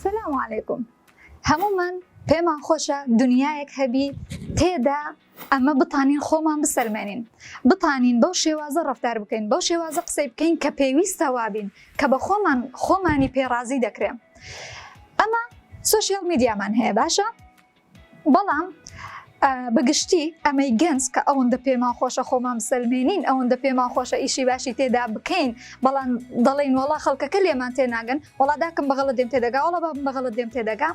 سلام علیکم هەمومان پێمان خۆشە دنیایەک هەبی تێدا ئەمە بتانین خۆمان بسەلمێنین بتانین بەو شێوازە ڕفتار بکەین بەو شێوازە قسەی بکەین کە پێویستە وابین کە بە خۆمان خۆمانی پێڕازی دەکرێن ئەمە سوسیال میدیامان هەیە باشە بەڵام بە گشتی ئەمەی گەنج کە ئەوەندە پێمان خۆشە خۆمان بسەلمێنین ئەوەندە پێمان خۆشە ئیشی باشی تێدا بکەین بەڵام دەڵێن وڵا خەڵکەکە لێمان تێناگەن وڵاداکەم بەغڵە دێم تێدەگا وڵا بە بەغڵە دێم تێدەگا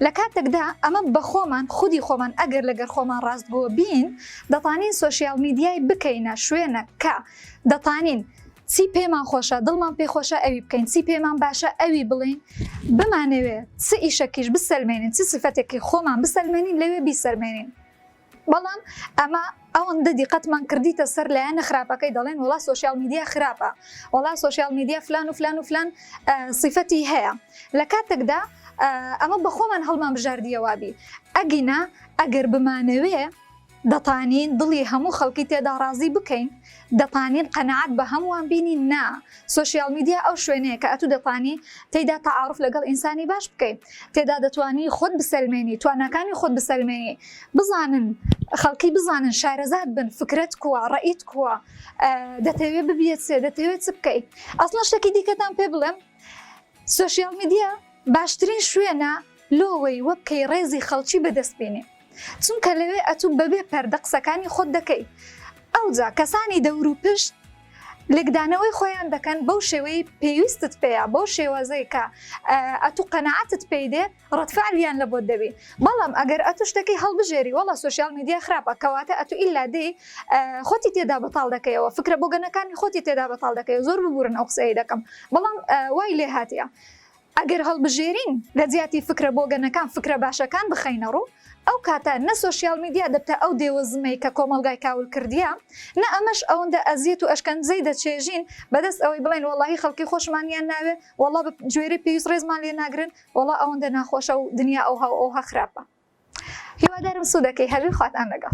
لە کاتێکدا ئەمە بە خۆمان خودی خۆمان ئەگەر لەگەر خۆمان ڕاستگۆ بین دەتانین سوسیال میدیای بکەینە شوێنە کە دەتانین چی پێمان خۆشە دڵمان پێ خۆشە ئەوی بکەین چی پێمان باشە ئەوی بڵین بمانەوێ چ ئیشەکیش بسەلمێنین چ سفەتێکی خۆمان بسەلمێنین لەوێ بیسەلمێنین بەڵام ئەمە ئەوەندە دیقەتمان کردیتە سەر لایەنە خراپەکەی دەڵێن وڵا سوسیال میدیا خراپە وڵا سوسیال میدیا فلان و فلان و فلان سیفەتی هەیە لە کاتێکدا ئەمە بەخۆمان هەڵمان بژاردیەوابی ئەگینا ئەگەر بمانەوێ دەتانین دڵی هەموو خەڵکی تێدا ڕازی بکەین دەتانین قەناعەت بە هەمووان بینین نا سۆشیال میدیا ئەو شوێنەیە کە ئەتوو دەتانی تێیدا تەعاروف لەگەڵ ئینسانی باش بکەی تێدا دەتوانی خۆت بسەلمێنی تواناکانی خۆت بسەلمێنی بزانن خەڵکی بزانن شارەزات بن فکرەت کووە ڕەئیت کووە دەتەوێ ببیت سێ دەتەوێ چ بکەی ئەسڵەن شتەکی دیکەتان پێ بڵێم سۆشیال میدیا باشترین شوێنە لۆوەی وەبکەی ڕێزی خەڵکی بەدەست بینی چونکە لەوێ ئەتو بەبێ پەردە قسەکانی خۆت دەکەی ئەوجا کەسانی دەورو پشت لێکدانەوەی خۆیان دەکەن بەو شێوەی پێویستت پێیە بەو شێوازەی کە ئەتو قەناعەتت پێی دێ ڕەدفعلیان لە بۆت دەبی بەڵام ئەگەر ئەتو شتەکەی هەڵبژێری وەڵا سۆشیال میدیا خراپە کەواتە ئەتو ئیلا دێی خۆتی تێدا بەتاڵ دەکەیەوە فکرە بۆگەنەکانی خۆتی تێدا بەتاڵ دەکەی زۆر ببورن ئەو قسەیەی دەکەم بەڵام وای لێ هاتیە ئەگەر هەڵبژێرین لە جیاتی فکرە بۆگەنەکان فکرە باشەکان بخەینە ڕوو ئەو کاتە نە سۆشیال میدیا دەبتە ئەو دێوە زمەی کە کۆمەڵگای کاول کردیە نە ئەمەش ئەوەندە ئەزیەت و ئەشکەنجەی دەچێژین بەدەست ئەوەی بڵێن وەڵاهی خەڵکی خۆشمانیان ناوێ وەڵا بە گوێرەی پێویست ڕێزمان لێ ناگرن وەڵا ئەوەندە ناخۆشە و دنیا ئەوها و ئەوها خراپە هیوادارم سودەکەی هەبی خواتان لەگەڵ.